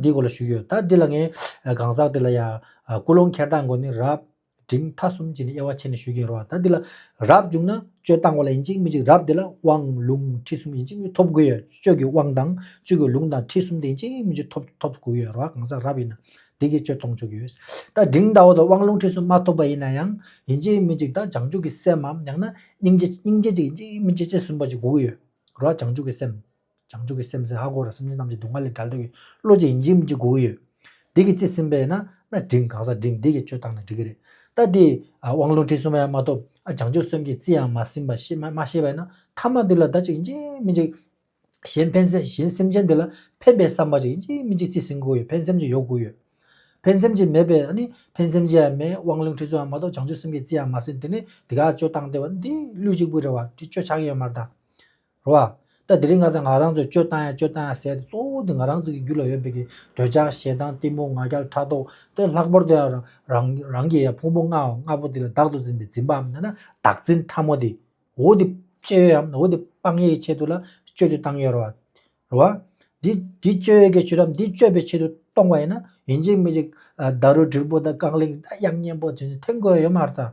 འདི་སྐོར་ལ་ཞུས་ཡོད། ད་འདི་ལ་ངས་གང་ཟག་དེ་ལ་ཡང་ཀུན་སློང་འཁྱེར་སྟངས་སྒོ་ནས་རབ་འབྲིང་མཐའ་གསུམ་གྱི་ནི་དབྱེ་བ་ཕྱེ་ནས་ཞུས་ཀྱིན་རོགས། ད་འདི་ལ་རབ་བྱུང་ན་སྤྱོད་སྟངས་བ་ལ་ཡིན་གཅིག་མི་གཅིག་རབ་དེ་ལ་དབང་ལུང་ཁྲིད་གསུམ་ཡིན་གཅིག་མི་གཅིག་ཐོབ་དགོས་ཡོད་སྤྱོད་ཀྱི་དབང་དང་སྤྱོད་ཀྱི་ལུང་དང་ཁྲིད་གསུམ་དེ་ཡིན་གཅིག་མི་གཅིག་ཐོབ་ཐོབ་དགོས་ཡོད་རོགས་གང་ཟག་རབ་ཡིན་ན་འདི་གིས་སྤྱོད་གཏོང་ཆོག་གི་ཡོད། ད་འབྲིང་ཟླ་བ་དང་དབང་ལུང་ཁྲིད་གསུམ་མ་ཐོབ་པ་ཡིན་ན་ཡང་ཡིན་གཅིག་མི་གཅིག་ད་བྱང་ཆུབ་ཀྱི་སེམས་འམ་ཡང་ན་སྙིང་རྗེ་སྙིང་རྗེ་གཅིག་ཡིན་གཅིག་མི་གཅིག་ཅེས་ཟིན་པ་ཅིག་དགོས་ཀྱི་ཡོད་རོགས་བྱང་ཆུབ་ཀྱི་སེམས། བྱང་ཆུབ་ཀྱི་སེམས་སེ་ཧ་གོ་ར་སེམས་ཅན་རྣམས་ཀྱི་སྡུག་བསྔལ་ལས་བསྒྲལ་དུ་ཡོད་བློ་རྗེ་ཡིན་གྱིས་མི་འཇིགས་གོ་ཡོད། དེ་གི་ཚེ་སེམས་པས་ན་ན་འབྲིང་གང་ཟག་འབྲིང་སྡེ་གི་སྤྱོད་བཏང་ན་འགྲིག་གི་རེད་ད་དེ། དབང་ལུང་ཁྲིད་གསུམ་ཡང་མ་ཐོབ་ཨ་བྱང་ཆུབ་སེམས་ཀྱི་རྩི་ཡང་མ་ཟིན་པ་ཤེས་མ་ཤེས་པས་ན་ཐ་མ་འདི་ལ་བདག་ཅིག་ཡིན་གྱིས་མི་འཇིགས། གཞན་ཕན་སེམས་གཞན་སེམས་ཅན་འདི་ལ་ཕན་པའི་བསམ་པ་ཅིག་ཡིན་གྱིས་མི་འཇིགས་རྩི་ཟིན་གོ་ཡོད་ཕན་སེམས་ཅིག་ཡོད་གོ་ཡོད། ཕན་སེམས་ཅིག་མེད་པས་ཨ་ནི་ཕན་སེམས་ཅིག་ཡང་མེད་དབང་ལུང་ཁྲིད་གསུམ་ཡང་མ་ཐོབ་བྱང་ཆུབ་སེམས་ཀྱི་རྩི་ཡང་མ་ཟིན་དེ་ནི་དེ་ག་སྤྱོད་བཏང་སྟེ་བ་འདི་ལུས་གཅིག་པུ་རེད་བ་འདི་སྤྱོད་ཆགས་ཡོད་མར་ད། རོ། ད་དེ་རིང་ང་ཚོས་ང་རང་ཚོའི་སྤྱོད་སྟངས་ཡ་སྤྱོད་སྟངས་ཡ་ཟེར་ཏེ་གཙོ་བོ་དེ་ང་རང་ཚོ་གི་རྒྱུད་ལ་ཡོད་པའི་གི་འདོད་ཆགས་ཞེ་སྡང་གཏི་མུག་ང་རྒྱལ་ཕྲག་དོག་དེ་ལྷག་པར་དུ་ཡང་རང་རང་གི་ཡ་ཕུང་པོ་ལྔ་འམ་ལྔ་པོ་དེ་ལ་བདག་ཏུ་འཛིན་པའི་འཛིན་པའམ་ཡང་ན་བདག་འཛིན་ཕྲ་མོ་དེ། འོ་དེ་སྤྱོད་ཡོད་ཡམ་འོ་དེ་སྤང་ཡས་ཀྱི་ཆེད་དུ་ལ་སྤྱོད་དུ་བཏང་ཡོད་རོ། རོ། དེ་དེ་སྤྱོད་ཡོད་ཀྱི་ཆེད་དུ་འམ་དེ་སྤྱོད་པའི་ཆེད་དུ་གཏོང་བ་ཡིན་ན་ཡིན་གཅིག་མིན་གཅིག་ད་རུ་དྲིལ་བུ་དང་རྐང་གླིང་ད་དབྱངས་སྙན་པོ་དེ་ཚོ་འཐེན་དགོས་ཡོད་མ་རེད་ད།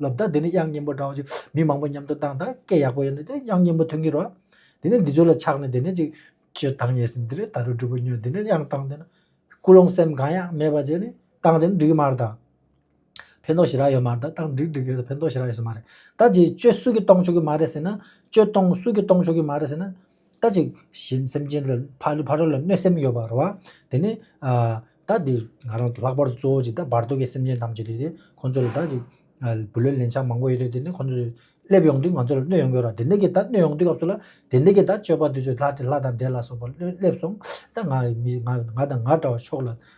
ལོ་ཟླ་འདི་ནི་དབྱངས་སྙན་པོ་འདྲ་བ་ཅིག་མི་མང་པོ་མཉམ་དུ་བཏང་དང་སྐད་ཡག་པོ་ཡོད་ན་དེ་དབྱངས་སྙན་པོ་ཐོན་གྱི་རོགས། དེ་ནས་འདི་ཚོ་ལ་ཆགས་ནས་དེ་ནས་ཅིག་ཅོ་དང་ཡས་ཟིན་དེ་ནས་ད་རུ་སྒྲུ་པོ་ཉོས་དེ་ནས་དབྱངས་བཏང་དེ་ན་སྐུ་ལོང་སེམས་གང་ཡང་མེད་པ་ཅིག་ནི་བཏང་དེ་ནི་འགྲིག་གི་མ་རེད་ད། ཕན་ཐོགས་ཞེ་དྲག་ཡོད་མ་རེད་ད་བཏང་འགྲིག་འགྲིག་གི་རེད་ད་ཕན་ཐོགས་ཞེ་དྲག་ཡོད་ས་མ་རེད་ད་ཅིག་ཅོ་སུ་གི་གཏོང་ཆོག་གི་མ་རེད་ཟེར་ན་ཅོ་གཏོང་སུ་གི་གཏོང་ཆོག་གི་མ་རེད་ཟེར་ན། ད་ཅིག། གཞན་སེམས་ཅན་ལ་ཕ་ལུས་ཕ་རོལ་ལ་གནོད་སེམས་ཡོད་པར་རོ། དེ་ནས། ད་དེ་ང་རང་ལྷག་པར་དུ་གཙོ་བོ་ཅིག་ད་བར་དོ་གའི་སེམས་ཅན་ཐམས་ཅད་ལས། ཁོང་ཚོ་ལ་ད་ཅིག། བུ་ལོན་ལན་ཆགས་མང་པོ་ཡོད་དུས་དེ་ནས་ཁོང་ཚོ། སླེབས་ཡོང་དུས་ང་ཚོ་ལ་གནོད་ཡོང་གི་རོ། དེ་འདི་གི་ད་གནོད་ཡོང་དུས་སྐབས་སུ་ལ། དེ་འདི་གི་ད་སྤྱོད་པ་དེ་ཚོས་ལྷ་དང་འདྲེ་ལ་སོགས་པ་སླེབས་སོང། ད་ང་ང་དང་ང་འདྲ་བ་ཕྱོགས་ལ།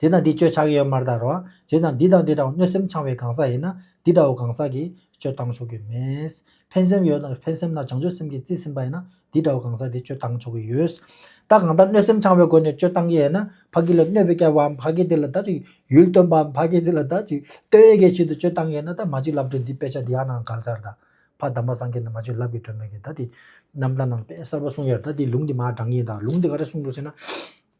དེ་དང་དེ་སྤྱོད་ཆགས་ཡོད་མར་དར་བ། བྱས་ཙང་འདི་དང་འདི་འདྲ་བ་གནོད་སེམས་འཆང་བའི་གང་ཟག་ཡིན་ན་འདི་འདྲ་བོ་གང་ཟག་གིས་སྤྱོད་བཏང་ཆོག་གི་མེད། ཕན་སེམས་ཡོད་ན་ཕན་སེམས་དང་བྱང་ཆུབ་སེམས་ཀྱིས་རྩིས་ཟིན་པ་ཡིན་ན་འདི་འདྲ་བོ་གང་ཟག་གིས་སྤྱོད་བཏང་ཆོག་གི་ཡོད། ད་གང་ལྟར་གནོད་སེམས་འཆང་བའི་སྒོ་ནས་སྤྱོད་བཏང་གི་ཡོད་ན་ཕ་སྐད་ལ་གནོད་པའི་སྐལ་བའམ་ཕ་སྐད་དེ་ལ་ད་ཅིག་ཡུལ་སྟོན་པའམ་ཕ་སྐད་དེ་ལ་ད་ཅིག་སྟོན་ཡས་ཀྱི་ཆེད་དུ་སྤྱོད་བཏང་གི་ཡོད་ན་ད་མ་ཅིག་ལབ་དགྲོས་འདི་དཔེ་ཆ་འདི་ཡག་ནའང་ག་ལ་ཚར་ད། ཕ་དམ་པ་སངས་རྒྱས་ནས་མ་ཅིག་ལབ་ཀྱི་དྲོད་མེད་ཀི་ད་དེ། རྣམ་ཐར་ནང་དཔེ་གསར་པ་གསུངས་ཡར་ད་དེ་ལུང་དེ་མ་དྲངས་ཀྱིས་ད་ལུང་དེ་ག་རེ་གསུངས་འདུག་ཟེར་ན།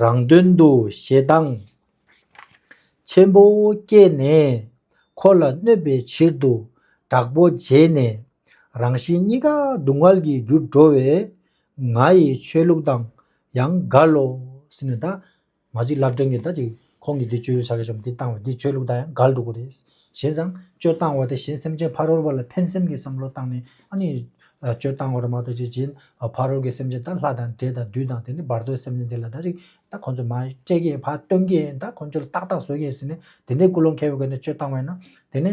རང་དོན་དུ་ཞེ་སྡང་ཆེན་པོ་སྐྱེས་ནས། འཁོར་ལ་གནོད་པའི་ཕྱིར་དུ་དྲག་པོ་བྱས་ནས། རང་བཞིན་གཉིས་ཀ་སྡུག་བསྔལ་གྱི་རྒྱུར་འགྲོ་བས། ང་ཡི་ཆོས་ལུགས་དང་ཡང་འགལ་ལོ། ཟེར་ནས་ད་མ་ཅིག་སླར་དྲན་གྱི་ད་ཅིག་ཁོང་གིས་འདི་གཅོད་ཡུལ་ས་ག་ཆོམ་འདི་བཏང་བས་འདི་གཅོད་ལུགས་དང་ཡང་འགལ་འདུག་གོ་རེད། བྱས་ཙང། གཅོད་བཏང་བ་དེ་གཞན་སེམས་ཅན་ཕ་རོལ་བ་ལ་ཕན་སེམས་ཀྱི་བསམ་བློ་བཏང་ནས་ཨ་ནི། གཅོད་བཏང་བར་མ་གཏོགས་ཅི་བྱེད། ཕ་རོལ་གྱི་སེམས་ཅན་ད་ལྷ་དང་འདྲེ་དང་བདུད་དང་དེ་ནི་བར་དོའི་སེམས་ཅན་དེ་ལ་ད་ཅིག་ད་ཁོང་ཚོས་མ་སྤྲད་ཀྱི་ཕ་སྟོན་གྱི་ད་ཁོང་ཚོ་ལ་ཏག་ཏག་བཟོ་གྱི་ཟེར་ནས་དེ་འདྲའི་ཀུན་སློང་ཁེལ་བའི་སྒོ་ནས་གཅོད་བཏང་བས་ན་དེ་ནི།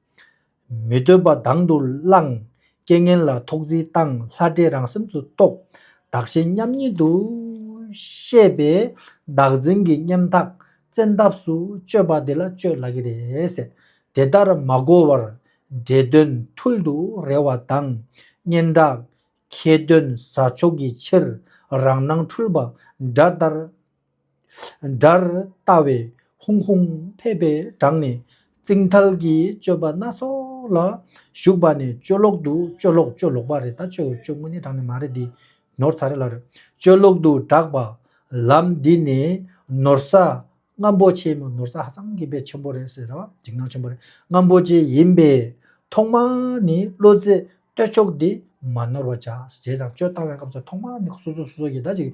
མི་འདོད་པ་དང་དུ་བླངས། རྐྱེན་ངན་ལ་ཐོག་བརྫིས་བཏང་ལྷ་འདྲེ་རང་སེམས་སུ་རྟོག། བདག་གཞན་མཉམ་ཉིད་དུ་ཤེས་པས་བདག་འཛིན་གྱི་སྙེམས་ཐག་བཙན་ཐབས་སུ་གཅོད་པ་དེ་ལ་གཅོད་ལ་གི་རེད། དེ་ལྟར་མ་གོ་བར་འདྲེ་གདོན་ཐུལ་དུ་རེ་བ་དང། སྙན་གྲགས་ཁྱེད་གདོན་ཟ་ཆོག་གི་ཕྱིར་རང་སྣང་འཁྲུལ་པ་དགྲ་ལྟར་སྒྲར་ལྟ་བའི་ཧུང་ཧུང་ཕེ་ཕེ་བསྒྲགས་ནས་རྩིང་ཐལ་གྱི་སྤྱོད་པ་སྣ་ཚོགས་ལ་ཞུགས་པ་ནས་སྤྱོད་ལོག་ཏུ་སྤྱོད་ལོག་སྤྱོད་ལོག་པ་རེད་ད་ཆོས་སྤྱོད་དངོས་ནི་བསྒྲགས་ནས་མ་རེད་འདི་ནོར་ཚ་རེད་ལ་རེད་སྤྱོད་ལོག་ཏུ་བསྒྲགས་པ་ལམ་འདི་ནས་ནོར་ས་རྔམ་པོ་ཆེ་མོད་ནོར་ས་ཧ་ཅང་གི་བེད་ཆེན་པོ་རེད་ཟེར་ན་འཇིགས་སྣང་ཆེན་པོ་རེད་རྔམ་པོ་ཆེ་ཡིན་པས་ཐོག་མ་ནས་བློ་རྩེ་གཏོད་ཆོག་འདི་མ་ནོར་བ་བྱ་བྱས་ཙང་སྤྱོད་བཏང་བའི་སྐབས་སུ་ཐོག་མ་ནས་སོ་སོ་སོ་སོ་ཡི་ད་ཅིག།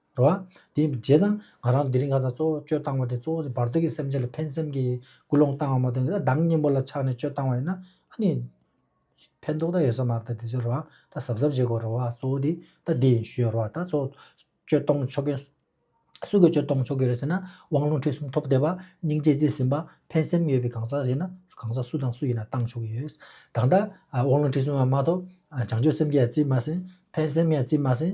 རོ། དེ་རྗེས་དང་ང་རང་དེ་རིང་གང་ཙམ་གཙོ་བོ་སྤྱོད་བཏང་བ་དེ་གཙོ་བོ་བར་དོ་གི་སེམས་ཅན་ལ་ཕན་སེམས་ཀྱི་ཀུན་སློང་བཏང་བ་མ་གཏོགས་ན་བདག་གཉེན་པོ་ལ་ཆགས་ནས་སྤྱོད་བཏང་བ་ཡིན་ན་ཨ་ནི། ཕན་ཐོགས་ད་ཡོད་ས་མ་རེད་ད་དེ་ཚོའི་རེད་བ་ད་གཟབ་གཟབ་བྱེད་དགོས་རེད་བ་གཙོ་བོ་དེ་ད་འདི་ཡིན་ཞུས་ཡོད་རེད་བ་ད་གཙོ་བོ་སྤྱོད་གཏོང་ཆོག་གི། སུས་ཀྱིས་སྤྱོད་གཏོང་ཆོག་གི་རེད་ཟེར་ན་དབང་ལུང་ཁྲིད་གསུམ་ཐོབ་བསྡད་པ་སྙིང་རྗེ་བརྩེ་ཟིན་པ་ཕན་སེམས་ཡོད་པའི་གང་ཟག་རེད་ན་གང་ཟག་སུ་དང་སུ་ཡིན་ན་བཏང་ཆོག་གི་ཡོད། ད་ལྟ་དབང་ལུང་ཁྲིད་གསུམ་ཡང་མ་ཐོབ་བྱང་ཆུབ་སེམས་ཀྱི་ཡང་བརྩིས་མ་ཟིན་ཕན་སེམས་ཡང་བརྩིས་མ་ཟིན